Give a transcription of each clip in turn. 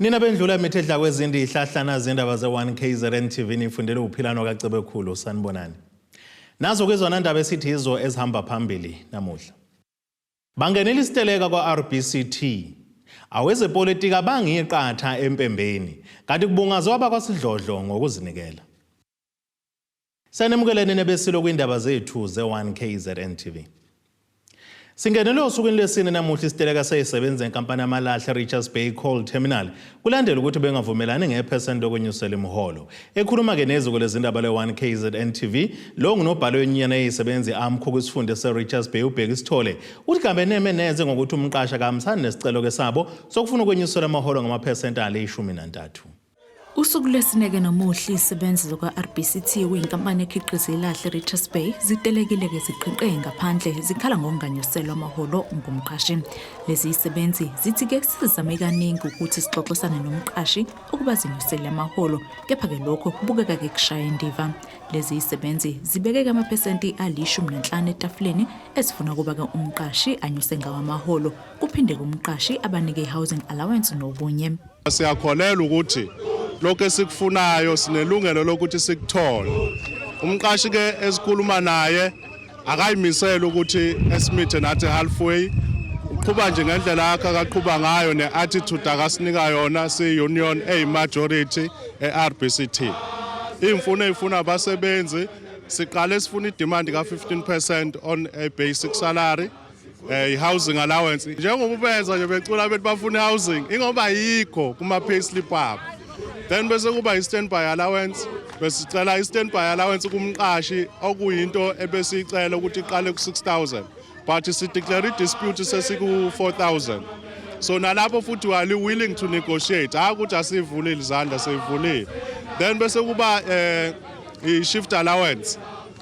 nina bendlula mithi edla kwezindi ihlahlana zindaba ze-1 kzn tv nifundele uphilano kacebekhulu sanibonani nazo kwizona ndaba esithi yizo ezihamba phambili namuhla Bangenela isiteleka kwa-RBCT. Awezepolitiki abangiye qatha empembeni, kanti kubungazwe abakwasidlodlo ngokuzinikela. Sanemukeleni nebesilo kwindaba zethu ze-1 KZN TV. Singenele osukwini lwesine namuhla isiteleka seyisebenza enkampani yamalahle Richards Bay Coal Terminal Kulandela ukuthi bengavumelani ngephesenti lokwenyusela imiholo. Ekhuluma-ke neziko lezindaba le-1 KZN TV, lo ngunobhala wenyunyana eyisebenzi i-AMCU kwisifunde se-Richards Bay uBheki Sithole, uthi kabeneme neze ngokuthi umqashi akahambisani nesicelo-ke sabo sokufuna ukwenyuselwa amaholo ngamaphesenti ale ishumi nantathu. Usuku lwesineke nomuhle izisebenzi zokwa-RBCT okuyinkampani ekhiqiza ilahle Richards Bay zitelekile-ke ziqhiqe ngaphandle zikhala ngokunganyuselwa amaholo ngumqashi. Lezi zisebenzi zithi ke sizame kaningi ukuthi sixoxisane nomqashi ukuba zinyusele amaholo kepha-ke lokho kubukeka ke kushaya indiva. Lezi zisebenzi zibeke-ke amaphesenti alishumi nanhlanu etafuleni ezifuna ukuba-ke umqashi anyuse ngawo amaholo kuphinde-ke umqashi abanike i-housing allowance nokunye. Siyakholelwa ukuthi lokho esikufunayo sinelungelo lokuthi sikuthole. Umqashi ke esikhuluma naye akayimisele ukuthi esimithe nathi halfway uqhuba nje ngendlela yakhe akaqhuba ngayo ne-attitude akasinika yona siyi-union eyi-majority e-rbct iy'mfuno ey'funa abasebenzi siqale sifuna idimandi ka-15 percent on a basic salary eh housing allowance njengoba benza nje becula bethi bafuna housing ingoba yikho kuma pay slip abo then bese kuba i standby allowance besicela i standby allowance kumqashi okuyinto ebesicela ukuthi iqale ku 6000 but si declare i dispute sesiku 4000 so nalapho futhi wali willing to negotiate hayi ukuthi asivulile izandla seyivulile then bese kuba eh i shift allowance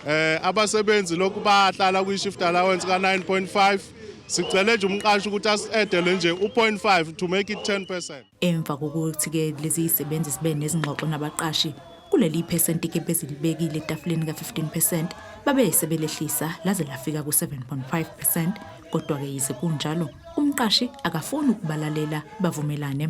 Eh abasebenzi lokhu bahlala kwi shift allowance ka 9.5 sicele nje umqashi ukuthi asi-edele nje u-0.5 to make it 10 percent emva kokuthi-ke lezi yisebenzi zibe nezingxoxo nabaqashi kuleli iphesenti ke bezilibekile etafuleni ka-15 percent babe sebelehlisa laze lafika ku-7.5 percent kodwa-ke yize kunjalo umqashi akafuni ukubalalela bavumelane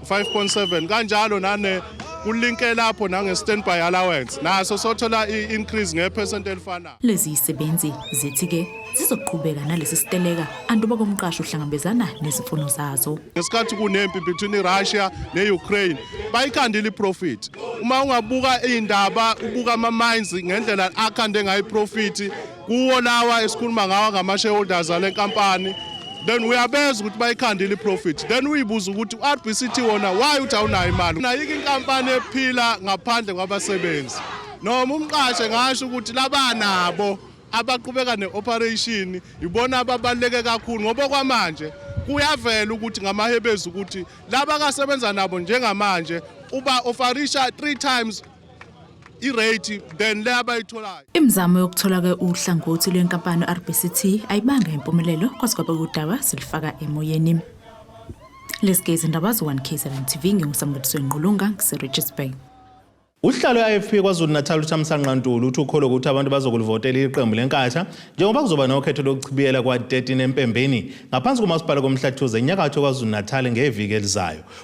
5.7 kanjalo nane kulinke lapho nange-standby allowance naso sothola i-increase ngephesenti elifanayo lezi yisebenzi zithi ke zizoqhubeka nalesi siteleka anduba komqasho uhlangabezana nezimfuno zazo ngesikhathi kunempi between irussia ne-ukraine bayikhandile iprofit uma ungabuka iy'ndaba ubuka ama-mines ngendlela akhande ngayo iprofit kuwo lawa esikhuluma ngawa ngama-shareholders ale nkampani then uyabeza ukuthi bayikhandile i-profit then uyibuza ukuthi u-rbct wona why uthi awunayo imali nayike inkampani ephila ngaphandle kwabasebenzi noma umqashe ngasho ukuthi labanabo abaqhubeka ne-operation yibona ababaluleke kakhulu ngoba kwamanje kuyavela ukuthi ngamahebezi ukuthi laba kasebenza nabo njengamanje uba ofarisha three times irate than le abayitholayo. Imizamo yokuthola ke uhlangothi lwenkampani RBCT ayibanga impumelelo kwaze kwaba udaba silifaka emoyeni. Lesike izindaba zo 1K7 TV ngingusambuliso Ngqulunga ngiseRichards Bay. Uhlalo i-IFP KwaZulu-Natal uThamisa Nqantulu uthi ukholwa ukuthi abantu bazokulivotela iqembu leNkatha njengoba kuzoba nokhetho lokuchibiyela kwa-13 empembeni ngaphansi komasipala koMhlathuze enyakatho KwaZulu-Natal ngeviki elizayo.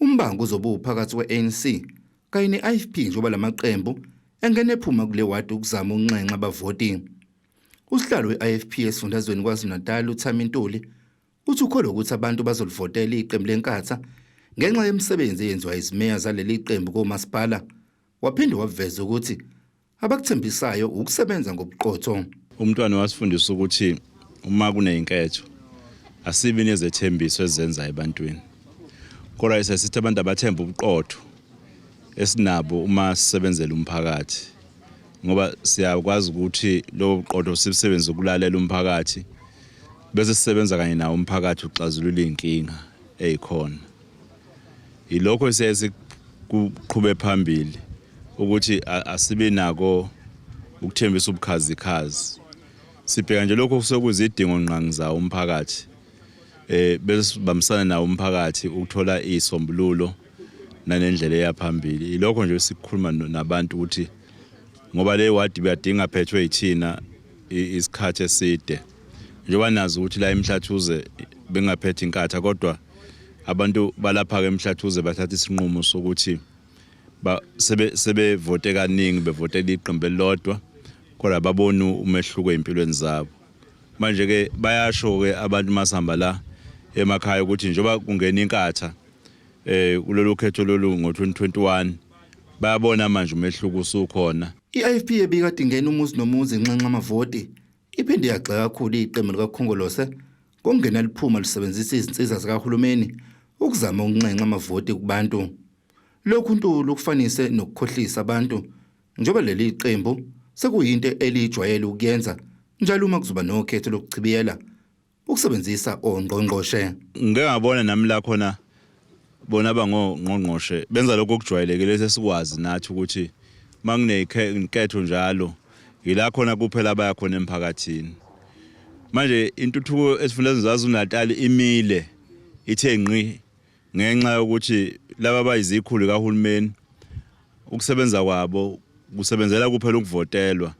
Umbango uzobe uphakathi kwe-ANC kanye ne-IFP njengoba lamaqembu engene ephuma kule wadi ukuzama ukunxenxa abavoti. Usihlalo we-IFP esifundazweni KwaZulu-Natal uThami Ntuli uthi ukholwa ukuthi abantu bazolivotela iqembu leNkatha ngenxa yemisebenzi eyenziwa izimeya zaleli qembu komasipala waphinde waveza ukuthi abakuthembisayo ukusebenza ngobuqotho umntwana wasifundisa ukuthi uma kuneyinketho asibi nezethembiso ezenza ebantwini kodwa sesithi abantu abathemba ubuqotho esinabo uma sisebenzela umphakathi ngoba siyakwazi ukuthi lobo buqotho sibusebenze ukulalela umphakathi bese sisebenza kanye nawo umphakathi uxazulula iy'nkinga ey'khona yilokho siyaye sikuqhube phambili ukuthi asibe nako ukuthembisa ubukhazikhazi sibheka nje lokho kusekuzidingo ngqangi zawo umphakathi eh bese bamsana nawo umphakathi ukuthola isombululo nanendlela eyaphambili ilokho nje sikukhuluma nabantu ukuthi ngoba le ward biyadinga phethwe yithina isikhathi eside njengoba nazi ukuthi la emhlathuze bengaphethe inkatha kodwa abantu balapha-ke emhlathuze bathatha isinqumo sokuthi sebevote sebe kaningi bevotela iqembu elilodwa kodwa baboni umehluko ey'mpilweni zabo manje-ke bayasho-ke abantu masihamba la emakhaya ukuthi njengoba kungena inkatha eh kulolu khetho lolu ngo-2021 bayabona manje umehluko usukhona i-ifp ebikade ingena umuzi nomuzi inxenxa amavoti Iphinde yagxeka kakhulu iqembu likaKhongolose ngokungena liphuma lisebenzisa izinsiza zikahulumeni ukuzama ukunxenxa amavoti kubantu. Lokhu uNtuli ukufanise nokukhohlisa abantu njengoba leli qembu sekuyinto elijwayele ukuyenza njalo uma kuzoba nokhetho lokuchibiyela ukusebenzisa ongqongqoshe ngike ngabona nami la khona bona abangongqongqoshe benza lokho okujwayelekile sesikwazi nathi ukuthi uma kunenketho njalo yila khona kuphela abaya khona emphakathini manje intuthuko esifundazweni zaZulu-Natal imile ithe ngqi ngenxa yokuthi laba bayizikhulu kahulumeni ukusebenza kwabo kusebenzela kuphela ukuvotelwa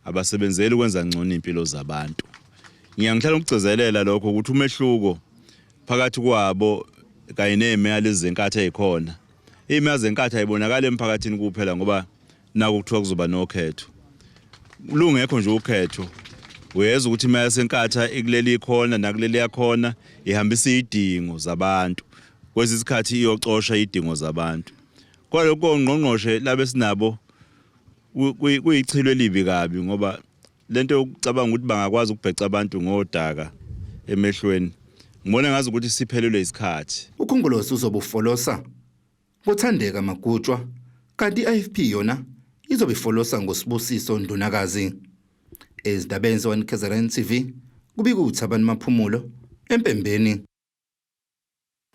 abasebenzeli ukwenza ngcono iy'mpilo zabantu ngiya ngihlala ngikugcizelela lokho ukuthi umehluko phakathi kwabo kanye ney'meya lezi zenkatha ey'khona iy'meya zenkatha ayibonakali emphakathini kuphela ngoba naku kuthiwa kuzoba nokhetho lungekho nje ukhetho uyeza ukuthi imali yasenkatha ikuleli ikhona nakuleli yakhona ihambisa iy'dingo zabantu kwesinye isikhathi iyocosha iy'dingo zabantu kwalokho ngqongqoshe labe sinabo kuyichilo elibi kabi ngoba lento yokucabanga ukuthi bangakwazi ukubheca abantu ngodaka emehlweni ngibona ngazi ukuthi siphelelwe isikhathi ukhongolose uzobufolosa ngothandeka magutshwa kanti i-ifp yona izobe ifolosa ngosibusiso ndunakazi ezindabeni zewanikhezeran tv kubika uthabani maphumulo empembeni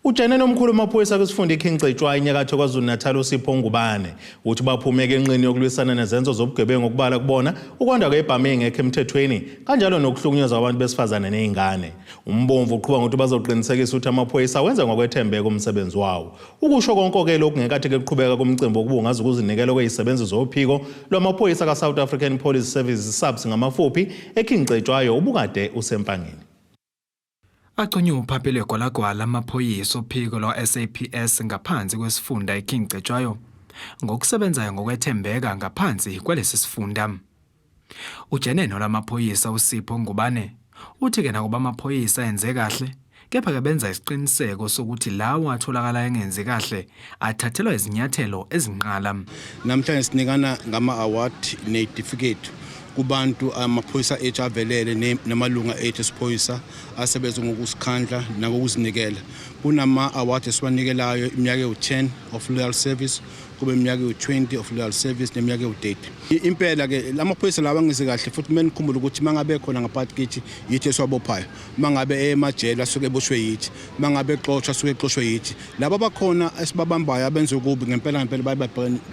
Ujane nomkhulu wamaphoyisa kwisifunda iKing Cetshwayo inyakatho KwaZulu-Natal uSipho Ngubane uthi baphumeke enqini yokulwisana nezenzo zobugebengu okubala kubona ukwanda kwebhamu engekho emthethweni kanjalo nokuhlukunyezwa abantu besifazane nezingane. Umbomvu uqhuba ngokuthi bazoqinisekisa ukuthi amaphoyisa wenza ngokwethembeka umsebenzi wawo. Ukusho konke-ke lokhu ngenkathi ke kuqhubeka kumcimbi wokubungaza ukuzinikela kwezisebenzi zophiko lwamaphoyisa kaSouth African Police Service, SAPS ngamafuphi, eKing Cetshwayo ubukade usempangeni. Agconywe uphaphe lwegwalagwala amaphoyisa ophiko lwa-SAPS ngaphansi kwesifunda iKing Cetshwayo ngokusebenzayo ngokwethembeka ngaphansi kwalesi sifunda. Ujeneno lamaphoyisa uSipho Ngubane uthi ke nakuba amaphoyisa enze kahle kepha-ke benza isiqiniseko sokuthi lawo atholakala engenzi kahle athathelwa izinyathelo ezinqala. Namhlanje sinikana ngama-award neyitifiketi kubantu amaphoyisa ethu avelele namalunga ethu esiphoyisa asebenze ngokusikhandla nangokuzinikela kunama-award esiwanikelayo iminyaka ewu-10 of loyal service kube iminyaka ewu-20 of loyal service neminyaka ewu-30 impela-ke la maphoyisa lawa angize kahle futhi kumele nikhumbule ukuthi uma ngabe khona ngaphakathi kithi yithi esiwabophayo uma ngabe eye emajele asuke eboshwe yithi uma ngabe exoshwa asuke exoshwe yithi laba bakhona esibabambayo abenza ukubi ngempela ngempela baye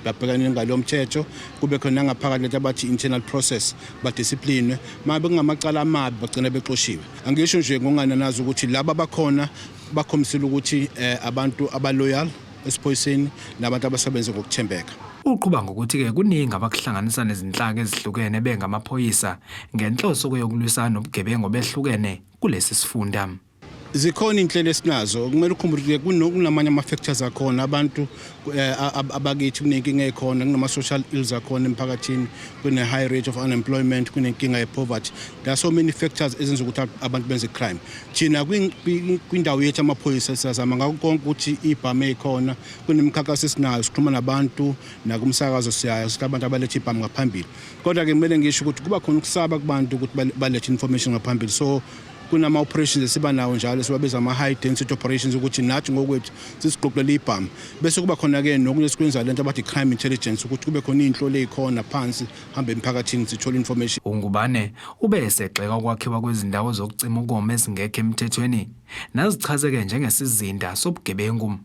babhekane ngalo mthetho kube khona nangaphakathi lento abathi internal process badisciplinwe uma bekungamacala amabi bagcina bexoshiwe angisho nje ngokungananazi ukuthi laba bakhona bakhombisile ukuthi eh, abantu abaloyal esiphoyiseni nabantu abasebenze ngokuthembeka. Uqhuba ngokuthi-ke kuningi abakuhlanganisa nezinhlaka ezihlukene bengamaphoyisa ngenhloso yokulwisana nobugebengu obehlukene kulesi sifunda. Zikhona inhlelo esinazo kumele ukhumbule ukuthi kunamanye ama-factors akhona abantu eh, abakithi kunenkinga ekhona kunama-social ills akhona emphakathini kune-high rate of unemployment kunenkinga ye-poverty there are so many factors ezenza ukuthi abantu benze crime thina kwindawo yethu amaphoyisa siyazama ngako konke ukuthi ibhamu eyikhona kunemikhankaso esinayo sikhuluma nabantu nakumsakazo siyayo sithi abantu abalethe ibhamu ngaphambili kodwa-ke kumele ngisho ukuthi kuba khona ukusaba kubantu ukuthi balethe information ngaphambili so kunama-operations esiba nawo njalo siwabiza ama-high density operations ukuthi nathi ngokwethu sisiqoqele ibhamu bese kuba khona-ke nokunye esikwenzayo le nto abathi crime intelligence ukuthi kube khona iy'nhloli ey'khona phansi hamba emphakathini sithola information uNgubane ube esegxeka ukwakhiwa kwezindawo zokucima ukoma ezingekho emthethweni nazichazeke njengesizinda sobugebengu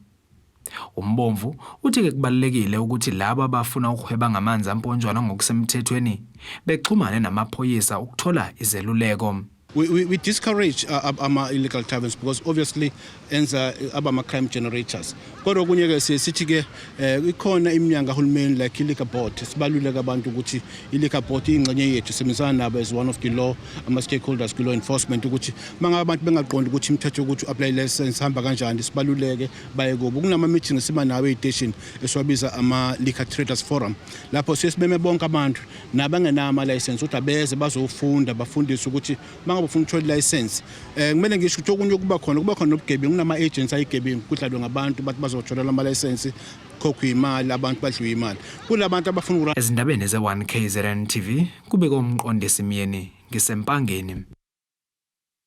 umbomvu uthi ke kubalulekile ukuthi laba abafuna ukuhweba ngamanzi amponjwana ngokusemthethweni bexhumane namaphoyisa ukuthola izeluleko We, we, we discourage uh, uh, ama-illegal taverns because obviously enza uh, abama-crime generators kodwa okunye-ke siye sithi-ke um ikhona iminyango kahulumeni like i-liquor board sibaluleke abantu ukuthi i-liquor board iyingxenye yethu sebenzisana nabo as one of the law ama-stakeholders kwi-law enforcement ukuthi uma ngabe abantu bengaqondi ukuthi imithetho yokuthi u-apply license hamba kanjani sibaluleke baye kubo kunama-meeting esiba nawo ey'teshini esiwabiza ama-liquor traders forum lapho siye sibeme bonke abantu nabangenayo amalayisensi ukuthi abeze bazofunda bafundiswe ukuthi uma ngabe ufuna ukuthola ilayisensi um eh, kumele ngisho ukuthi okunye okuba khona kuba khona nobugebengu kunama-agency ayigebengu kudlalwe ngabantu bathi bazothola la malayisensi khokhwe imali abantu badliwe imali kulabantu abafuna ukura ezindabeni ze-1 kzn tv kubeke umqondisi myeni ngisempangeni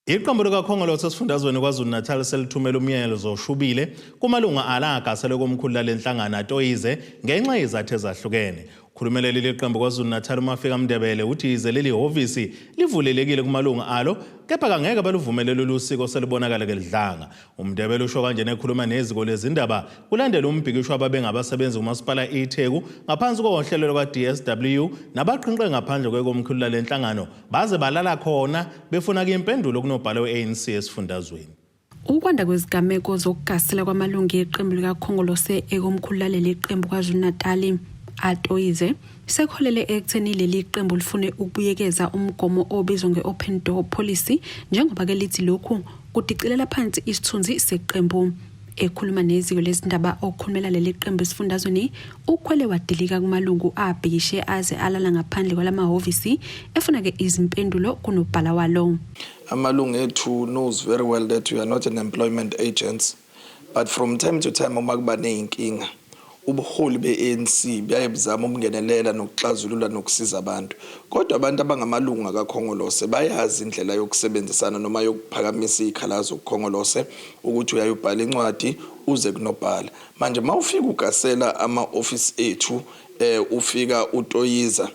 Iqembu likaKhongolose esifundazweni KwaZulu-Natal selithumela umyalezo zoshubile kumalunga ala agasele komkhulu lale nhlangano atoyize ngenxa yezathu ezahlukene. Ukhulumela leli qembu KwaZulu-Natal uMafika Mndebele uthi yize leli hhovisi livulelekile kumalunga alo kepha kangeke baluvumele lolu siko selubonakala kelidlanga. UMndebele usho kanjena ekhuluma neziko lezindaba kulandela umbhikisho ababengabasebenzi kumasipala iTheku ngaphansi kohlelo lwaka-DSW nabaqhinqe ngaphandle kwekomkhulu lale nhlangano Baze balala khona befuna ke impendulo kunobhala we-ANC esifundazweni. Ukwanda kwezigameko zokugasela kwamalungu eqembu likaKhongolose ekomkhulu laleli qembu KwaZulu-Natali atoyize sekholele ekutheni leli qembu lifune ukubuyekeza umgomo obizwa nge-open door policy njengoba ke lithi lokhu kudicilela phansi isithunzi seqembu ekhuluma neziko lezindaba okhulumela leli qembu esifundazweni ukhwele wadilika kumalungu abhikishe aze alala ngaphandle kwalamahhovisi efuna ke izimpendulo kunobhala walo amalungu ethu knows very well that we are not an employment agents but from time to time uma kuba nezinkinga Ubuholi be-ANC buyaye buzame ukungenelela nokuxazulula nokusiza abantu. Kodwa abantu abangamalungu akaKhongolose bayazi indlela yokusebenzisana noma yokuphakamisa izikhalazo kuKhongolose ukuthi uyaye ubhale incwadi uze kunobhala. Manje mawufika ugasela ama office ethu ufika utoyiza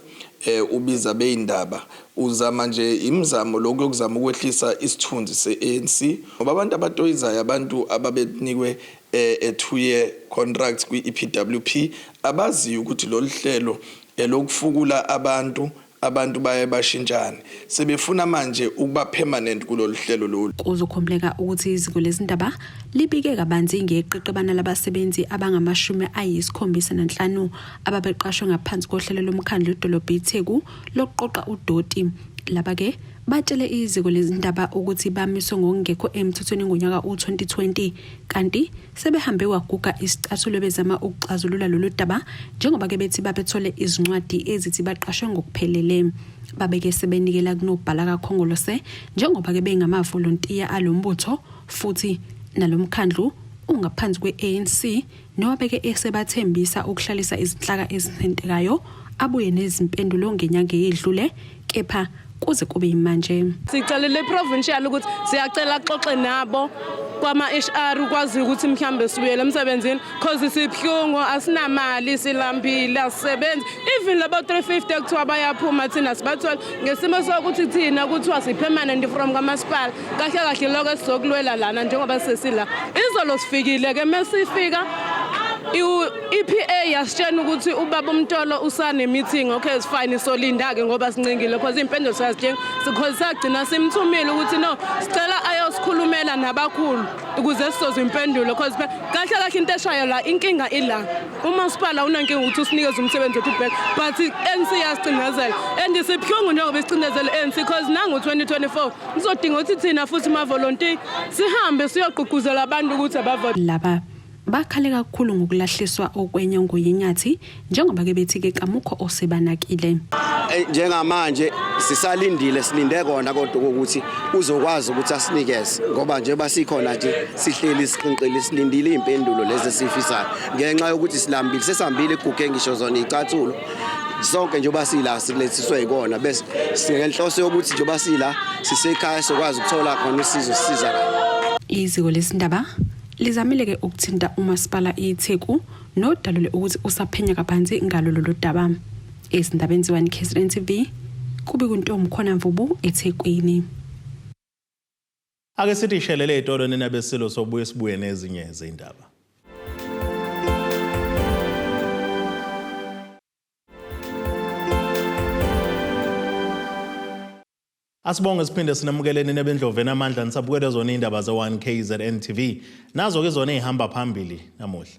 ubiza abeyindaba uzama nje imizamo lokhu yokuzama ukwehlisa isithunzi se-ANC ngoba abantu abatoyizayo abantu ababenikwe e two year contracts kwi-EPWP abaziyo ukuthi lolu hlelo elokufukula abantu abantu baye bashintshane sebefuna manje ukuba permanent kulolu hlelo lolu. Kuzokhumbuleka ukuthi iziko lezindaba libike kabanzi ngeqeqebana labasebenzi abangamashumi ayisikhombisa nanhlanu ababeqashwe ngaphansi kohlelo lomkhandlu idolobha iTheku lokuqoqa udoti. Laba ke batshele iziko lezindaba ukuthi bamiswe ngokungekho emthethweni ngonyaka u-2020 kanti sebehambe kwaguga isicathulo bezama ukuxazulula lolu daba njengoba ke bethi babethole izincwadi ezithi baqashwe ngokuphelele babeke sebenikela kunobhala kakhongolose njengoba ke bengamavolontiya alombutho futhi nalomkhandlu ungaphansi kwe-ANC nowabeke esebathembisa ukuhlalisa izinhlaka ezithintekayo abuye nezimpendulo ngenyanga eyedlule kepha kuze kube yimanje sicelele iprovincial ukuthi siyacela xoxe nabo kwama-hr ukwaziyo ukuthi mhlawumbe sibuyele emsebenzini cause sibuhlungu asinamali silambile asisebenzi even labo 350 kuthiwa bayaphuma thina sibathole ngesimo sokuthi thina kuthiwa si-permanent from kamasipala kahle kahle lokho esizokulwela lana njengoba sesila izolo sifikile ke mesifika i-EPA yasitshena ukuthi ubaba umtolo usane meeting okay is fine solinda ke ngoba sincingile because impendulo siyazidinga because sagcina simthumile ukuthi no sicela ayosikhulumela nabakhulu ukuze sizozwa impendulo because kahle kahle into eshayo la inkinga ila umasipala unenkinga ukuthi usinikeze umsebenzi wethu back but ANC yasicinezela and sibuhlungu njengoba isicinezela ANC because nangu 2024 Kuzodinga ukuthi thina futhi mavolontiya sihambe siyogqugquzela abantu ukuthi abavote. Laba bakhale kakhulu ngokulahliswa okwenye ngoyinyathi njengoba ke bethi ke kamukho osebanakile. Eh, njengamanje sisalindile silinde kona kodwa ukuthi uzokwazi ukuthi asinikeze ngoba nje basikhona nje sihleli siqinqile silindile impendulo lezi sifisayo ngenxa yokuthi silambile sesambile iguge ngisho zona icathulo sonke njengoba sila silethiswe yikona bese singenhloso yokuthi njengoba sila sisekhaya sokwazi ukuthola khona usizo sisiza iziko lesindaba lizamile ke ukuthinta umasipala iTheku nodalule ukuthi usaphenya kabanzi ngalo lolu daba ezindabeni ziwani KZN TV kubi kuntombi khona mvubu eThekwini Ake sithi shelele ezitolo nina besilo sobuye sibuye nezinye izindaba. Asibonge siphinde sinamukele nina bendloveni amandla nisabukele zona indaba ze 1KZN TV. Nazo ke zona ezihamba phambili namuhla.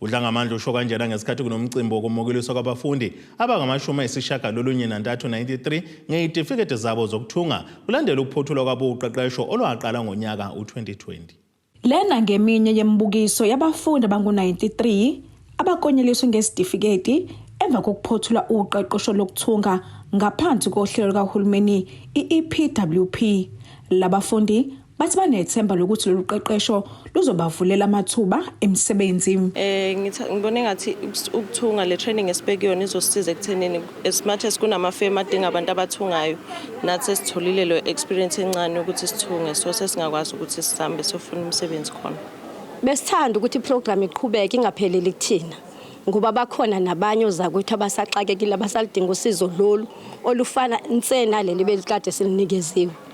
UDlangamandla usho kanjena ngesikhathi kunomcimbi wokomukeliswa kwabafundi abangamashumi ayisishiyagalolunye nantathu 93 ngeyitifiketi zabo zokuthunga kulandela ukuphothulwa kwabo uqeqesho olwaqala ngonyaka u-2020. Lena ngeminye yemibukiso yabafundi abangu-93 abakonyeliswe ngezitifiketi emva kokuphothula uqeqesho lokuthunga ngaphansi kohlelo lukahulumeni i-EPWP. Labafundi Bathi banethemba lokuthi lolu qeqesho luzobavulela amathuba emisebenzi. Eh ngibona engathi ukuthunga le training esibekuyona izosisiza ekuthenini as much as kunamafemu adinga abantu abathungayo nathi sesitholile lo experience encane ukuthi sithunge so sesingakwazi ukuthi sihambe sofuna umsebenzi khona. Besithanda ukuthi iprogram iqhubeke ingapheleli kuthina ngoba bakhona nabanye ozakwethu abasaxakekile abasalidinga usizo lolu olufana nse naleli belikade silinikeziwe.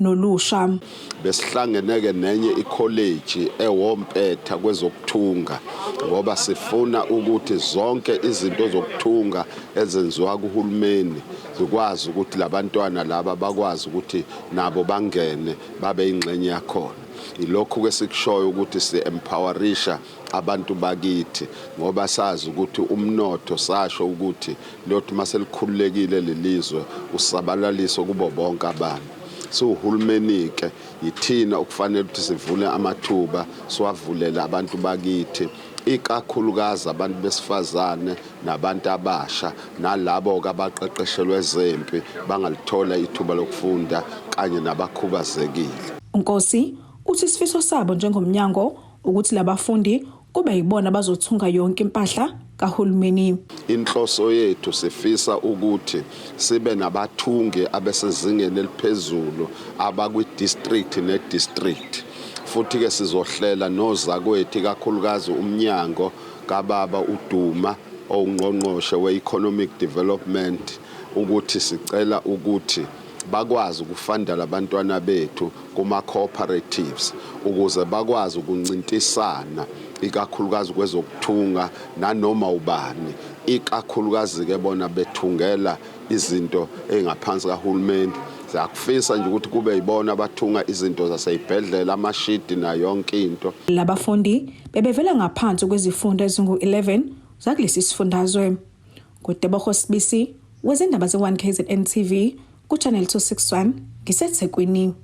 nolusha. Besihlangene-ke nenye ikholeji ewompetha kwezokuthunga ngoba sifuna ukuthi zonke izinto zokuthunga ezenziwa kuhulumeni zikwazi ukuthi labantwana laba bakwazi ukuthi nabo bangene babe ingxenye yakhona. Ilokhu-ke sikushoyo ukuthi si-empowerisha abantu bakithi ngoba sazi ukuthi umnotho sasho ukuthi lothi maselikhululekile lelizwe usabalaliso kubo bonke abantu siwuhulumeni ke yithina okufanele ukuthi sivule amathuba siwavulele abantu bakithi ikakhulukazi abantu besifazane nabantu abasha nalabo kabaqeqeshelwe ezempi bangalithola ithuba lokufunda kanye nabakhubazekile. UNkosi uthi isifiso sabo njengomnyango ukuthi labafundi kube yibona abazothunga yonke impahla kahulumeni. Inhloso yethu sifisa ukuthi sibe nabathungi abesezingeni eliphezulu abakwi-district ne-district futhi-ke sizohlela nozakwethu ikakhulukazi umnyango kababa uDuma owungqongqoshe we-economic development ukuthi sicela ukuthi bakwazi ukufandela abantwana bethu kuma-cooperatives ukuze bakwazi ukuncintisana ikakhulukazi kwezokuthunga nanoma ubani ikakhulukazi-ke bona bethungela izinto ey'ngaphansi kahulumeni siyakufisa nje ukuthi kube yibona abathunga izinto zaseyibhedlela amashidi nayo yonke into labafundi bebevela ngaphansi kwezifundo ezingu-11 zakulesi sifundazwe NguTeboho Sibisi wezindaba ze-1 kzn TV kuChannel 261 ngiseThekwini.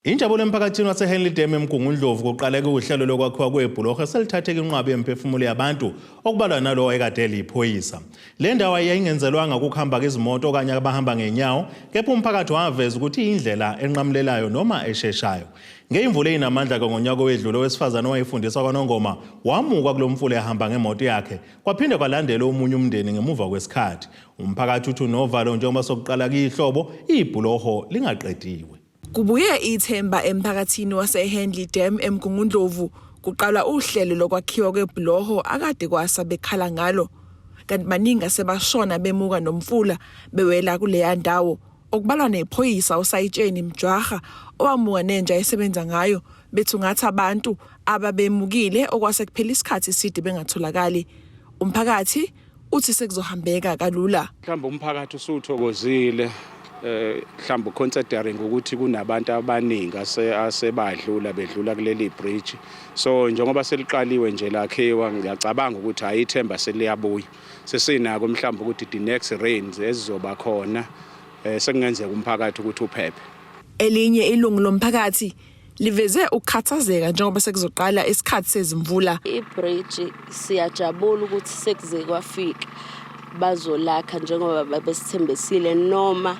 Injabulo emphakathini waseHenley Dam eMgungundlovu kuqaleke uhlelo lokwakhiwa kwebhuloho eselithatheka inqwabi yemiphefumulo yabantu okubalwa nalowo ayekade eliyiphoyisa. Le ndawo yayingenzelwanga ukuhamba izimoto okanye abahamba ngenyawo kepha umphakathi waveza ukuthi iyindlela enqamulelayo noma esheshayo. Ngeyimvula eyinamandla-ke ngonyaka owedlule owesifazane owayefundisa kwaNongoma wamuka kulo mfula ehamba ngemoto yakhe Kwaphinde kwalandela omunye umndeni ngemuva kwesikhathi. Umphakathi uthi unovalo njengoba sokuqala kiyihlobo ibhuloho lingaqediwe. Kubuye ithemba emphakathini waseHenley Dam eMgungundlovu kuqalwa uhlelo lokwakhiwa kwebhuloho akade kwasa bekhala ngalo kanti baningi asebashona bemuka nomfula bewela kuleya ndawo okubalwa nephoyisa usayitsheni Mjwaha owamuka nenja esebenza ngayo bethungatha abantu ababemukile okwase kuphela isikhathi eside bengatholakali umphakathi uthi sekuzohambeka kalula mhlawumbe umphakathi usuthokozile eh mhlawumbe considering ukuthi kunabantu abaningi asebadlula bedlula kuleli bridge so njengoba seliqaliwe nje lakhiwa ngiyacabanga ukuthi hayi ithemba seliyabuya sesinako mhlawumbe ukuthi the next rains ezizoba khona eh, sekungenzeka umphakathi ukuthi uphephe elinye ilungu lomphakathi liveze ukukhathazeka njengoba sekuzoqala isikhathi sezimvula ibridge siyajabula ukuthi sekuze kwafika bazolakha njengoba babesithembisile noma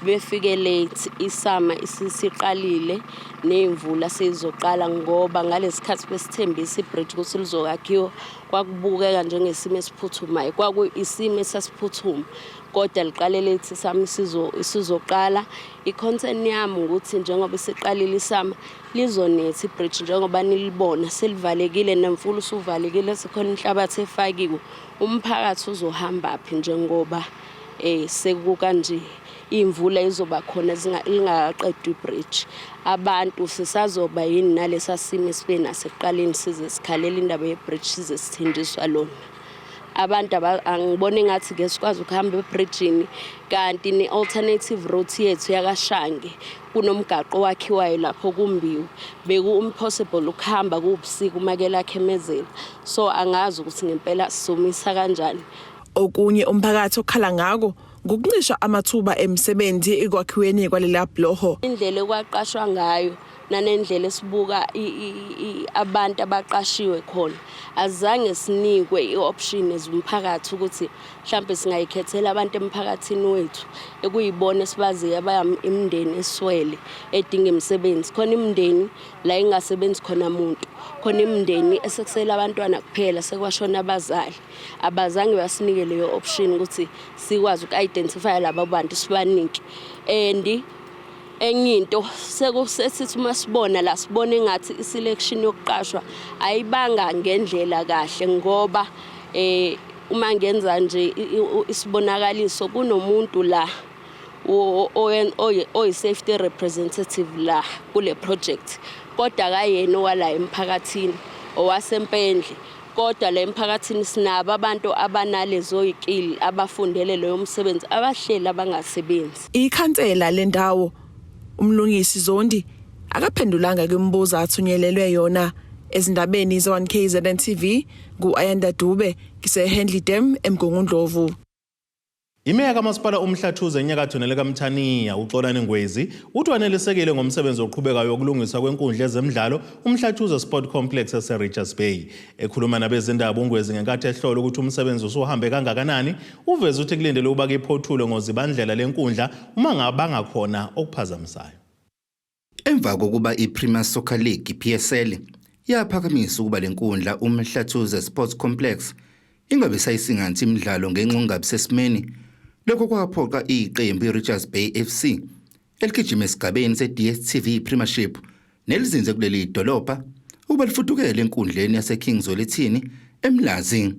befike late isama isisiqalile nezimvula sezizoqala ngoba ngalesikhathi besithembisa ibridge ukuthi lizokakhiwa Kwakubukeka njengesimo esiphuthumayo, kwakuyisimo esasiphuthuma kodwa liqalele ithi sami isizoqala. I-concern yami ukuthi njengoba isiqalile isama lizonetha ibridge njengoba nilibona selivalekile nemfula usuvalekile sekhona inhlabathi efakiwe. Umphakathi uzohambaphi njengoba um sekukanje? imvula izoba khona lingakaqedwa ibridge abantu sisazoba yini nalesa simo esibe naso ekuqaleni size sikhalela indaba yebridge size sithenjiswa lona abantu angibona engathi ke sikwazi ukuhamba ebridgini kanti ne-alternative route yethu yakashange kunomgaqo owakhiwayo lapho kumbiwe beku-impossible ukuhamba kuwubusiku uma ke lakhe emezela so angazi ukuthi ngempela sizomisa kanjani okunye umphakathi okhala ngako ngokuncisha amathuba emisebenzi ekwakhiweni kwalela bloho indlela ekwaqashwa ngayo nanendlela esibuka abantu abaqashiwe khona azange sinikwe i-option as umphakathi ukuthi mhlawumbe singayikhethela abantu emphakathini wethu ekuyibona esibaziyo abayimndeni eswele edinga imisebenzi khona imndeni la ingasebenzi khona muntu khona imndeni esekusele abantwana kuphela sekwashona abazali abazange basinike leyo option ukuthi sikwazi uku-identifya laba bantu sibanike and enye into sekusesithi uma sibona la sibona engathi iselection yokuqashwa ayibanga ngendlela kahle ngoba eh uma ngenza nje isibonakaliso kunomuntu la oyi-safety representative la kule project kodwa kayena owala emphakathini owasempendle kodwa la emphakathini sinabo abantu abanalezoyikili abafundele leyo msebenzi abahleli abangasebenzi ikhansela lendawo umlungisi zondi akaphendulanga kwimibuzo athunyelelwe yona ezindabeni ze-1 kzn tv ngu-ayanda dube ngisehendley dam emgungundlovu Imeya kaMasipala uMhlathuze eNyakatho nelikaMthaniya, uXolani Ngwezi, uthi wanelisekile ngomsebenzi oqhubekayo wokulungiswa kwenkundla ezemidlalo uMhlathuze Sport Complex eseRichards Bay. Ekhuluma nabezindaba uNgwezi ngenkathi ehlola ukuthi umsebenzi usuhambe kangakanani, uveze ukuthi kulindelwe ukuba kiphothulwe ngozibandlela lenkundla uma ngabangakhona okuphazamisayo. Emva kokuba iPremier Soccer League, PSL, yaphakamisa ukuba le nkundla uMhlathuze Sports Complex ingabe sayisinganthi imidlalo ngenxa ungabi sesimeni, lokho kwaphoqa iqembu iRichards Bay FC eligijima esigabeni se-DStv Premiership nelizinze kuleli dolobha ukuba lifudukele enkundleni yaseKing Zwelithini eMlazi.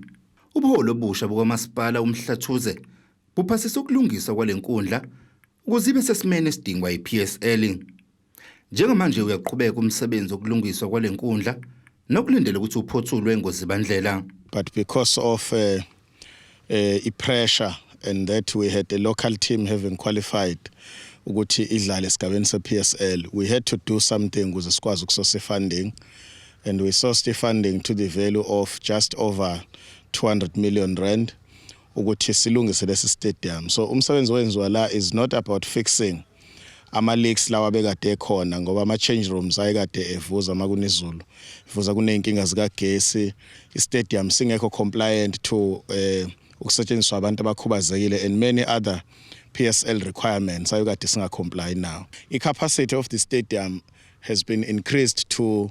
Ubuholi obusha bukamasipala uMhlathuze buphasisa ukulungiswa kwale nkundla ukuze ibe sesimeni esidingwa yiPSL. Njengamanje uyaqhubeka umsebenzi wokulungiswa kwale nkundla nokulindele ukuthi uphothulwe ngozibandlela. But because of uh, uh, i-pressure and that we had a local team having qualified ukuthi idlale esigabeni se-PSL we had to do something ukuze sikwazi ukusosa i-funding and we sourced i-funding to the value of just over 200 million rand ukuthi silungise lesi stadium so umsebenzi owenziwa la is not about fixing ama leaks lawa bekade ekhona ngoba ama change rooms ayekade evuza makunizulu ivuza kuneyinkinga zikagesi i stadium singekho compliant to eh ukusetshenziswa abantu abakhubazekile and many other PSL requirements ayekade singa comply now i capacity of the stadium has been increased to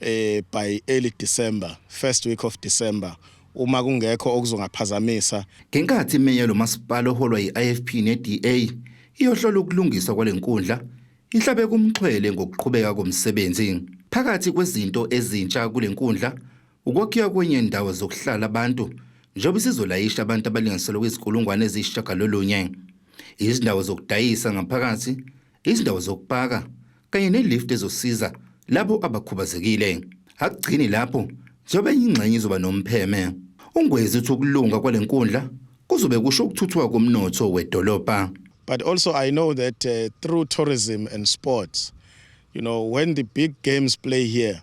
eh by early December first week of December uma kungekho okuzongaphazamisa ngenkathi imeya lomasipala oholwa yi-IFP ne-DA iyohlola ukulungiswa kwalenkundla ihlabe kumxhwele ngokuqhubeka komsebenzi phakathi kwezinto ezintsha kulenkundla ukwakhiwa kwenye ndawo zokuhlala abantu njengoba isizolayisha abantu abalinganiselwa kwizikulungwane eziyisishagalolunye izindawo zokudayisa ngaphakathi izindawo zokupaka kanye nelift ezosiza labo abakhubazekile akugcini lapho njengoba ingxenye izoba nompheme ungwezi uthi ukulunga kwale nkundla kuzobe kusho ukuthuthuka komnotho wedolobha but also i know that uh, through tourism and sports you know when the big games play here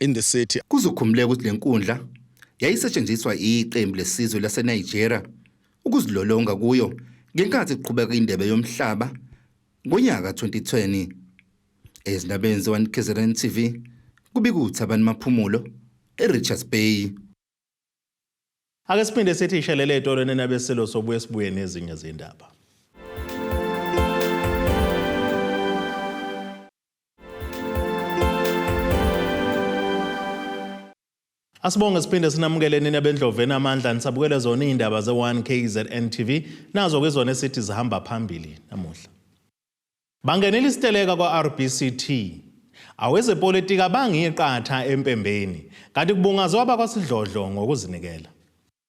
in the city. Kuzokhumuleka ukuthi le nkundla yayisetshenziswa iqembu lesizwe laseNigeria ukuzilolonga kuyo ngenkathi kuqhubeka indebe yomhlaba ngonyaka 2020. Ezindabeni ze-One KZN TV kubika uThabani Maphumulo eRichards Bay. Ake siphinde sithi ishelele etolo nenabeselo sobuye sibuye nezinye zindaba. Asibonge siphinde sinamukele nina bendloveni amandla nisabukele zona izindaba ze1 KZN TV nazo ke zona esithi zihamba phambili namuhla. Bangenela isiteleka kwa-RBCT. Awezepolitiki abangiyiqatha empembeni kanti kubungazwa abakwasidlodlo ngokuzinikela.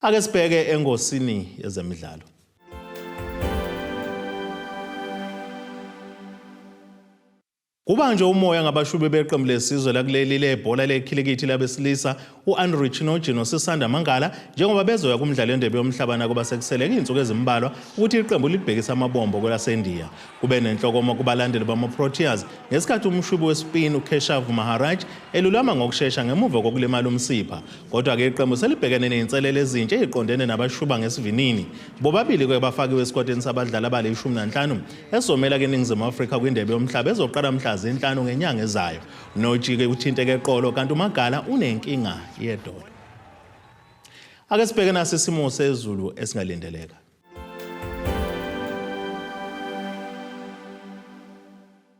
Ake sibheke engosini yezemidlalo. Kubanjwe umoya ngabashubi beqembu lesizwe lakuleli lebhola lekhilikithi labesilisa u-Andrew Chinoji noSisanda Mangala njengoba bezoya kumdlalo endebe yomhlaba nakuba sekusele iy'nsuku ezimbalwa ukuthi iqembu libhekise amabombo kwelasendiya. Kube nenhlokomo kubalandeli bama-Proteas ngesikhathi umshubi wespin uKeshav Maharaj elulama ngokushesha ngemuva kokulimala umsipha. Kodwa-ke iqembu selibhekene ney'nselelo ezintsha ey'qondene nabashuba ngesivinini. Bobabili ke bafakiwe esikwateni sabadlali abale ishumi nanhlanu esizomela keningizimu Afrika kwindebe yomhlaba ezoqala mhla zinhlanu ngenyanga ezayo. Nojike uthinteke eqolo kanti umagala unenkinga yedolo. Ake sibheke nasi isimo sezulu esingalindeleka.